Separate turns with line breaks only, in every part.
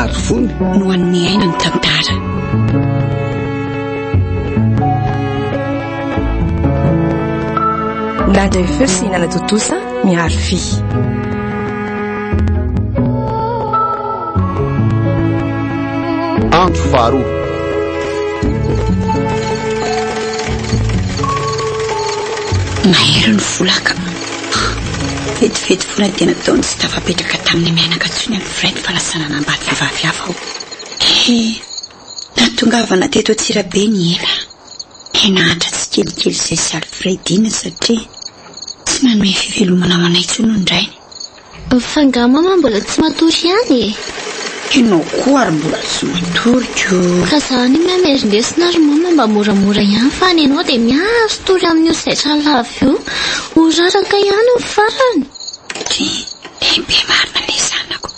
Ary fony
no an'ny miaina
ny tantara.
Nada e feu sy hinana tontosa miharo fy.
Andro faharoa.
Mahery ny volaka. Vetivety foana dia nataony tsy tafapetraka tamin'ny mianaka intsony amin'ny frais-n'ny fanasana lamba an'ny vehivavy hafa aho. He! Nahatongavana teto Antsirabe ny ela. He nahantra tsikelikely izay sy Alfredina satria tsy nanome fivelomana ho anay intsony ny rainy. Fa nga
mama mbola tsy matory ihany e? Enao
koa ary mbola tsy matory ko. Ka za anie
meme ry lesona ry mama mba moramora ihany fa any enao dia mihazo tory amin'io zaitra lava io. Ho raraka ihany ny farany. Tena
be marina le zanako.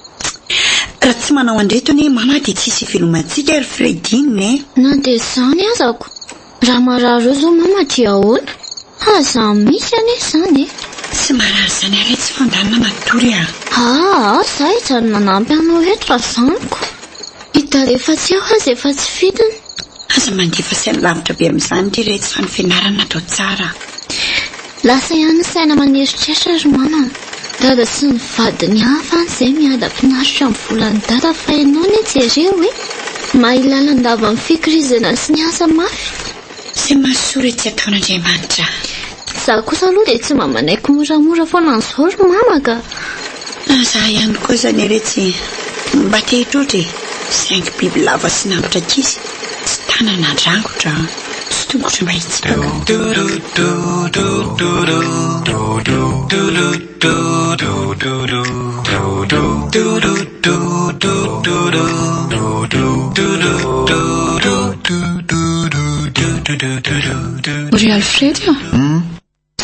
Raha tsy manao andreto anie mama dia tsisy ivelomantsika ry Freddy neh. Na dia izany
aza ko. Raha marary eo zao mama dia ahoana? Ha za misy anie izany e! Tsy marary izany
ary etsy fandanina matory a! Aa za
hijanona manampy anao eto raha tsy amiko. I dada efa tsy eo aza efa tsy fidiny. Aza mandefa
saina lavitra be amin'izany ry retsy fa ny fianarana atao tsara.
Lasa ihany ny saina maneritreritra ry mama an! Dada sy ny vadiny hafa any izay miadam-pinaritra amin'ny volan'i dada fa ianao anie jereo hoe mahay lalandava amin'ny fikirizana sy ny asa mafy! Tsy mahasoa
re tsy ataon'Andriamanitra an! Izaho
kosa aloha dia tsy mba manaiky moramora foana an'izao ry mama ka! Na za
ihany koa zany anie tsy mba te hitroatra e! Saingy biby lava sy nambotry ankizy tsy tanana andrangotra sy tongotra mba hitsipaka.
Ry Alfredo a!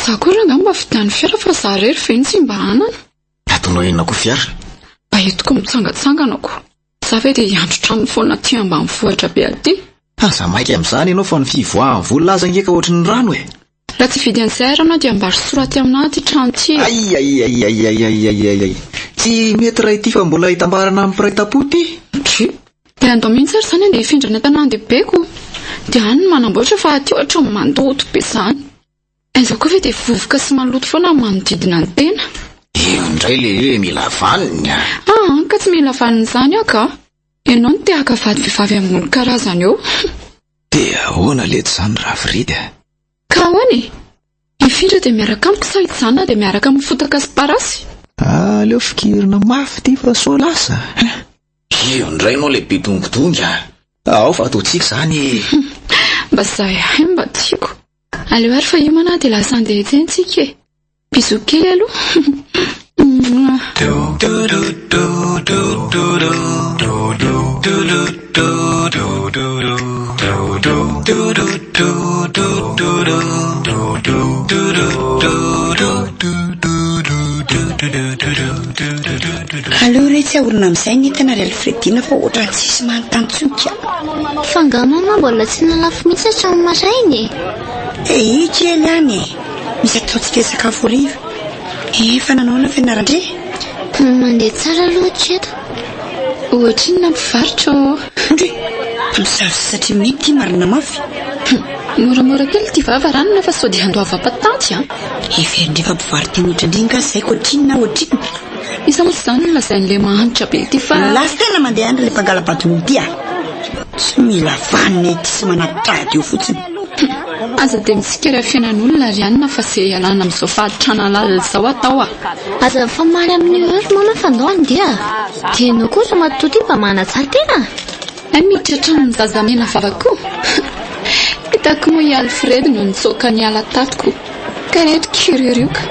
Za koa rangah mba vidiano fiara fa za rery ve no tsy mba hanana. Atonao inona
koa fiara? Mba entiko
mitsangatsangana koa. Za ve dia hiandry tranony foana aty ambanivohitra be aty. Aza maika
amin'izany ianao fa ny fivoahan'ny vola aza ange ka ohatry ny rano e! Raha tsy hividy an'izay
ary ianao dia ambaro soroha aty aminah ity trano ity e! Aiaiaiaiaiaiaiaiaiai!
Tsy mety raha ity fa mbola hitambarana amin'ny mpiray tampo ity! Dry! Dia
andao mihitsy ary izany andeha hifindra any an-tanàn-dehibeko dia any no manamboatra fa aty ohatry ny mandoto be izany! Aiza koa ve dia vovoka sy maloto foana ny manodidina ny tena. Eo indray
le hoe mila vaniny a! Ah an, ka tsy mila
vaniny izany aho ka! Ianao no te haka vady vehivavy ambony karazana eo. Dia
ahoana letsy izany Raviridy a! Ka ahoana
e! Hifindra dia miaraka amiko sa hijanona dia miaraka amin'ny fotaka sy parasy? Aleo
fikirina mafy ity fa sao lasa! Io indray no le be dongodongy a! Ao fa ataontsika izany e! Mba
zay ihany no mba tiako. Aleo ary fa hiomana dia lasa handeha etsy tsika e! Bisous kely aloha.
Aleo re tsy ahorina amizay ny entana ry Alfredina fa ohatrany tsisy manontany tsony ka. Fa nga
mama mbola tsy nalafo mihitsy hatramin'ny maraina e. Ee kely any e.
Misy ataontsika hisakafo hariva. Efa nanao ny fianaran-dry? Tany mandeha
tsara aloha hatreto.
Ohatrinona mpivarotra ô? Ndry!
Mpisavy satria mety ity marina mafy. Moramora
kely ity vava ranona fa sao dia handoavam-patanty an! Heverin'ireo fa
mpivaro-teny ohatrandry nga izay ka ohatrinona ohatrinona. Iza moa izany
no lazain'ilay mahantra be ity fa. Lasa tena mandeha any ilay
mpangala-badona ity a! Tsy mila vanona ity sy manatitra ady eo fotsiny. Aza
dia mitsikera fiainan'olona ry anona fa ze ialana amin'izao faharitrana lalina izao atao a! Aza mifamaly
amin'io eo ry mama fa ndao handeha a! Dia ianao koa ry ramatoa ity mba manatsara tena a! Hay mety
hatramin'ny zazamena vava koa! Hitako moa i Alfred no nitsoaka niala tato ko ka ireto kiriorioka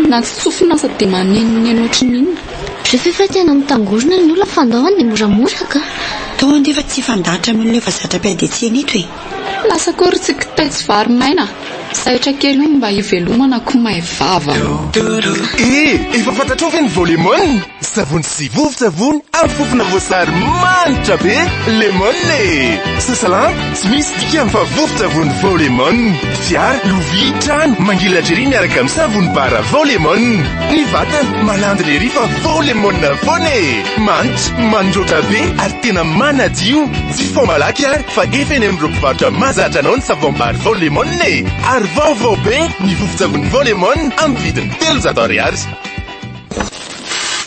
na tsy tsofina aza dia manenoneno ohatry ny inona. Rehefa efa tena
mitangorona ny olona fandaoany dia moramora ka. Toa andefa tsy
hifandahatra amin'olona efa zatra
mpiady
etsy sy
eneto
e! Lasa
koa ry
tsy
kitay
tsy vary maina, zaitra
kely hono mba hivelomana ko may vava. Eh!
Efa fantatrao ve ny vao lemon? Savony sy vovon-tsavony amin'ny fofona voasary manitra be lemon e! Sasa lamba, tsy misy dikany fa vovon-tsavony vao lemon. Fiara, lovia, trano, mangilatr'y ery miaraka amin'ny savony bara vao lemon. Ny vatana, malandina ery fa vao lemon foana e! Manitra, mandroatra be ary tena manadio. Tsy fomba laky ary fa efa eny amin'ireo mpivarotra mahazatra anao ny savom-bary Vao Lemon e! Ary vaovao be ny vovon-tsavony Vao Lemon amin'ny vidiny telonjato ariary.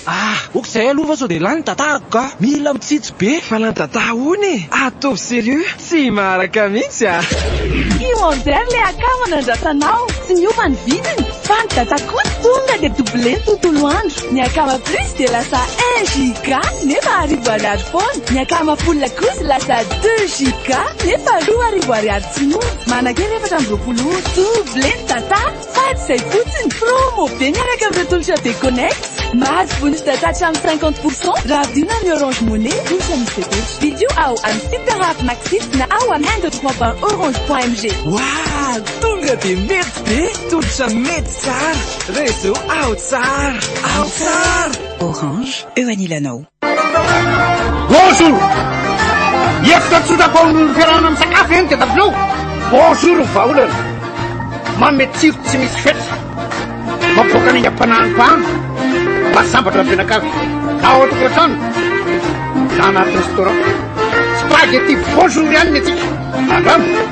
Ah! ok zay aloha fa sao dia lany dadah ka! Mila mitsitsy be! Fa lany dadah hono e! Ataovy sérieux! Tsy maharaka mihitsy ah! Io
Enzer le akama nandrasanao, tsy niova ny vidiny. Faly dada koto tonga de doublé ny tontolo andro, ny akama plus de lasa un giga nefa arivo ariary foana, ny akama full kosa lasa deux giga nefa roa arivo ariary tsy mora, manankery efatra amby roapolo ora, doublé ny data fa tsy zay fotsiny, promo be miaraka amin'ireo tolotra be connect, mahazo bonus data hatramin'ny cinquante pour cent raha vidina amin'ny orange money ohatra ny fepetra, vidio ao amin'ny super app maxit na ao amin'ny un deux trois point orange point mg. Waah!
Tonga de mety! Be tolotra mety tsara. Réseau Aho Tsara. Aho Tsara. Orange,
eo anilanao.
Bonjour! Hevitra tsotra atao amin'ny fiarahana misakafo eny dia tabilao. Bonjour ny vahaolana. Manome tsiro tsy misy fetra. Mampivoaka ny aingam-panahin'ny mpahana. Mba sambatra ny mpianakavy. Na ao an-tokantrano na anaty restaurant. Spaghetti bonjour ihany ny antsika. Andramo!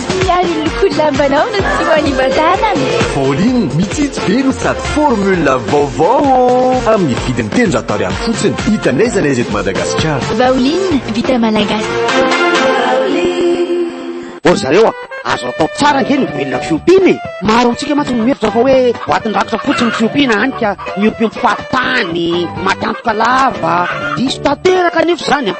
Tsy ary ny lokon'ny lambanao no tsy
ho any ivan-tanana. Pauline, mitsitsy be no sady formule vaovao ô! Amin'ny vidiny telonjato ariary fotsiny. Hita n'aiza n'aiza eto Madagasikara. Vaoline,
vita malagasy.
Ô ry zareo a! Azo atao tsara ange ny mivelona fiompiana e! Maro amintsika mantsy no mihevitra fa hoe boatin-drakitra fotsiny ny fiompiana hany ka miompiompy fahatany, maty antoka lava. Diso tanteraka anefa izany a!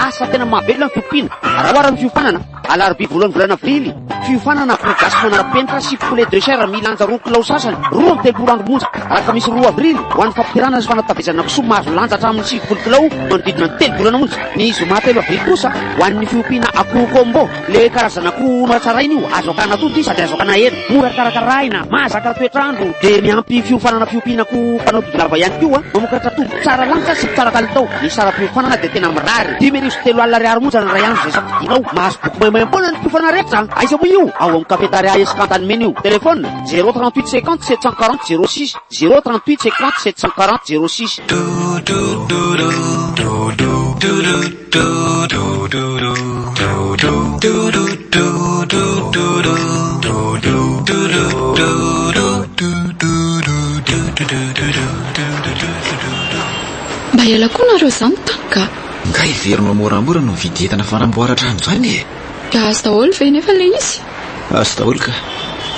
Asa tena mahavelona ny fiompiana. Raha ohatra ny fiofanana. Alarobia voalohan'ny volana Aprily, fiofanana pro gasy manara-penitra sy poulet de chair milanja roa kilao sasany, roa amby telopolo andro monja. Alakamisy roa Avrily, ho an'ny fampidirana sy fanatavezana kisoa mahazo lanja hatramin'ny sivifolo kilao manodidina ny telo volana monja. Ny zoma telo Avrily kosa, ho an'ny fiompiana akoho combo. Le karazana akoho hono hatsaraina io, azo akana tonta izy sady azo akana hena. Mora karakaraina, mahazaka toetr'andro, dia miampy fiofanana fiompiana akoho mpanao todilava ihany koa mamokatra toby. Tsara lanitra sy tsara kalitao, ny saram-piofanana dia tena mirary. Dimy arivo sy telo alina ariary monja ny iray andro izay safidianao. Mahazo boky maimaimpoana ny mpiofana rehetra. Aiza moa io? Ao amin'ny Cafetaria Escantany Menu. Telefona, zéro trente-huit cinquante sept cent quarante zéro six, zéro trente-huit cinquante sept cent quarante zéro six.
Mba hiala koa nareo za mitany ka. Nga hiverina
moramora no mividy entana fanamboara trano zany e! Ka azo daholo
ve nefa le izy? Azo daholo ka.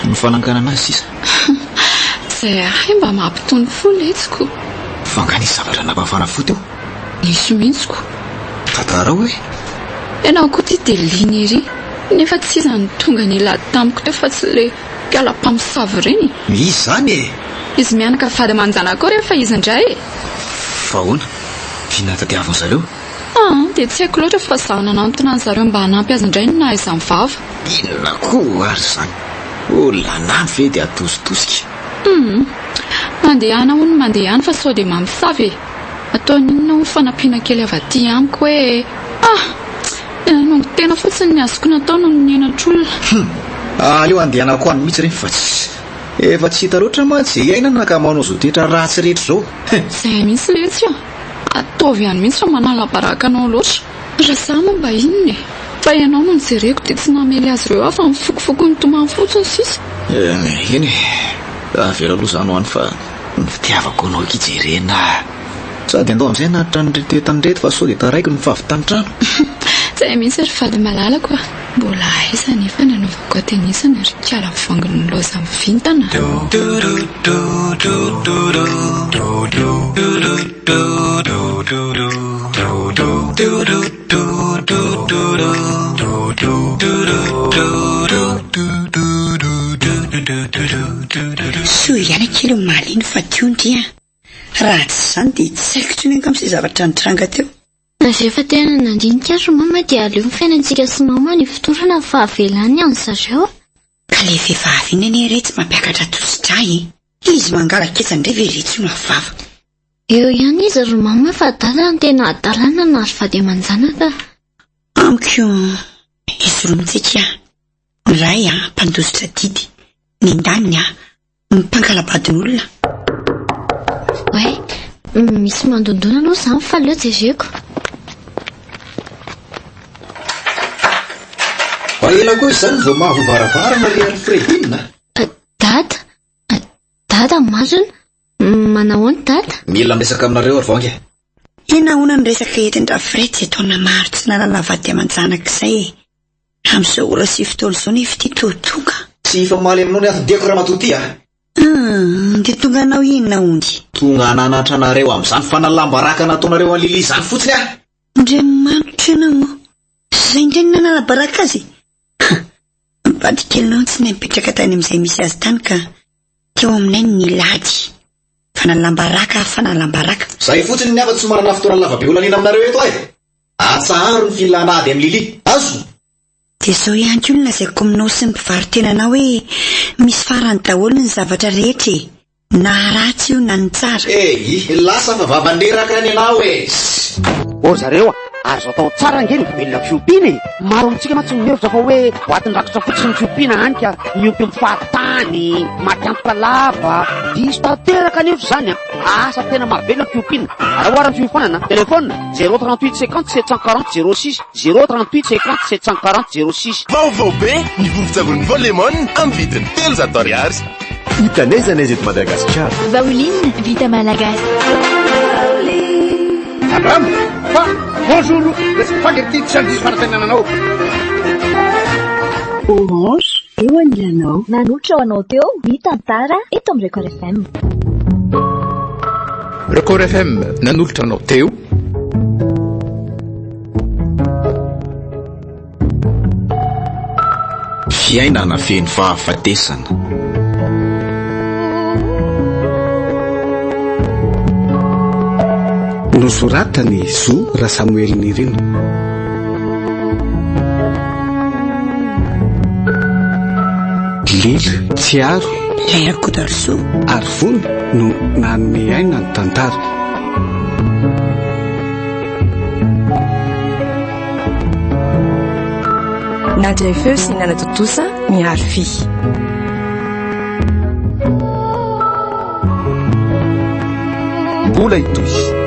Ny fananganana azy sisa.
Zay ahay mba mampitony fo letsy ko. Fa nga nisy
zavatra nampafana fo teo? Diso mihitsy
ko. Tantarao
e. Ianao koa
ity dia liana ery nefa tsy iza no tonga nilaha tamiko teo fa tsy ilay mpiala mpamosavy ireny e. Misy izany e.
Izy mianaka
vady aman-janaka ao rehefa izy indray e. Fa ahoana?
Vina nitadiaviny zareo? Ah, dia tsy
haiko loatra fa izaho nanantona an-dry zareo mba hanampy azy indray no naha izany vava. Inona koa
ary izany? Olona lany ve dia atositosika? Hum.
Mandehana hono mandehana fa sao dia mamosavy e. Ataony inona hoy fanampiana kely avy aty amiko hoe ah! Dia nanongo tena fotsiny ny azoko natao noho ny henatr'olona. Humm! Aleo andehanako
any mihitsy re fa tsy. Efa tsy hita loatra mantsy izay iainana ka manao izao toetra ratsy rehetra izao. He! Izay mihitsy
letsy a! Ataovy ihany mihitsy fa manala baraka anao loatra. Raha izaho moa mba inona e! Fa ianao no nojereko dia tsy namely azy ireo aho fa mifokofoko nitomany fotsiny sisa. Eny e!
Avela aloha izany ho any fa. Ny fitiavako anao akia jerena ah. Sady andao amin'izay hanatitra an'ireto entana ireto fa sao dia taraiky ny fahavitan'ny trano. Tsy hay
mihitsy ry vady malalako ah. Mbola aiza anefa ny anaovako atenisana ry kala voangin'ny loza amin'ny vintana ah.
Soa ihany akia omaly iny fa teo ndry an! Raha tsy izany dia tsy haiko intsony angamba izay zavatra nitranga teo. Rehefa tena
nandinika ry mama dia aleo ny fiainantsika sy mama no ifotorana ny fahavelany an ry zareo a! Ka ilay
vehivavy iny anie re tsy mampiakatra tosi-drà e! Izy mangalan-ketsa indray ve re tsy ho lavorava? Eo ihany
izy ry mama fa adala no tena adalana na ry vady aman-janaka. Amiko
izy roa mitsiky ahy, ny ray mpandositra didy, ny ndaniny mpankalabadin'olona.
Oay, misy mandondona aloha izany fa aleo jereko.
Mba ela koa izany vao mahavaravara ry Alfredina a! Dada!
Dada, masina? Manahoana Dada? Mila miresaka aminareo
ry Vangy e! Dia nahoana ny
resaka entin-dRafree izay taona maro tsy nanana vady aman-janaka izay e? Amin'izao ora sy fotoana izao nefa ity toa tonga. Tsy hifamaly aminao
ny anton-diako ramatoa ity a! Hum,
dia tonga hanao inona hono? Tonga hananatra
anareo amin'izany fanalam-baraka nataonareo an'i Lily izany fotsiny aho! Andriamanitra
ianao ô! Izay indray no nanala-baraka azy e! Mpivady kely lantsy no nipetraka tany amin'izay misy azy tany ka teo aminay ny nilady. Fanalam-baraka ary fanalam-baraka. Zay fotsiny ny hafa tsy
manana fotoana lava be holaniana aminareo eto ay! Atsaharo ny filana ady amin'i Lily. Azo? Dia zao
ihany koa no lazaiko aminao sy ny mpivaro-tena anao hoe misy farany daholo ny zavatra rehetra e! Na ratsy io na ny tsara. E hi hi lasa fa
vava niraka ny anao e ssy. Ô
zareo a! Ary zao tao tsara ange ny velona fiompiana e! Maro amintsika mantsy no mihevitra fa hoe boatin'ny rakitra fotsiny ny fiompiana hany ka miompy amin'ny fahatany, maty antoka lava. Diso tanteraka anefa izany an! Asa tena mahavelona ny fiompiana. Raha ohatra ny fiofanana, telefaonina, zéro trente huit cinquante sept cent quarante zéro six. Zéro trente huit cinquante sept cent quarante zéro six. Vaovao be ny
vovon-tsavony Vao Lemon amin'ny vidiny telonjato ariary. Hita n'aiza n'aiza eto Madagasikara. Vaoline vita
malagasy.
Abraham, fa bonjour, le spaghetti tsy handiso fanatenananao.
Orange eo anilanao. Nanohitra ho anao teo ny tantara eto amin'ny Record FM.
Record FM nanolotra anao teo.
Fiainana feno fahafatesana.
Nosoratany Zo Rasamoely Nirina. Lily Tsiaro. Ilay Rakotarosoa.
Arivony
no nanome aina ny tantara.
Nadray feo sy nanatontosa mihary fy.
Mbola hitohy.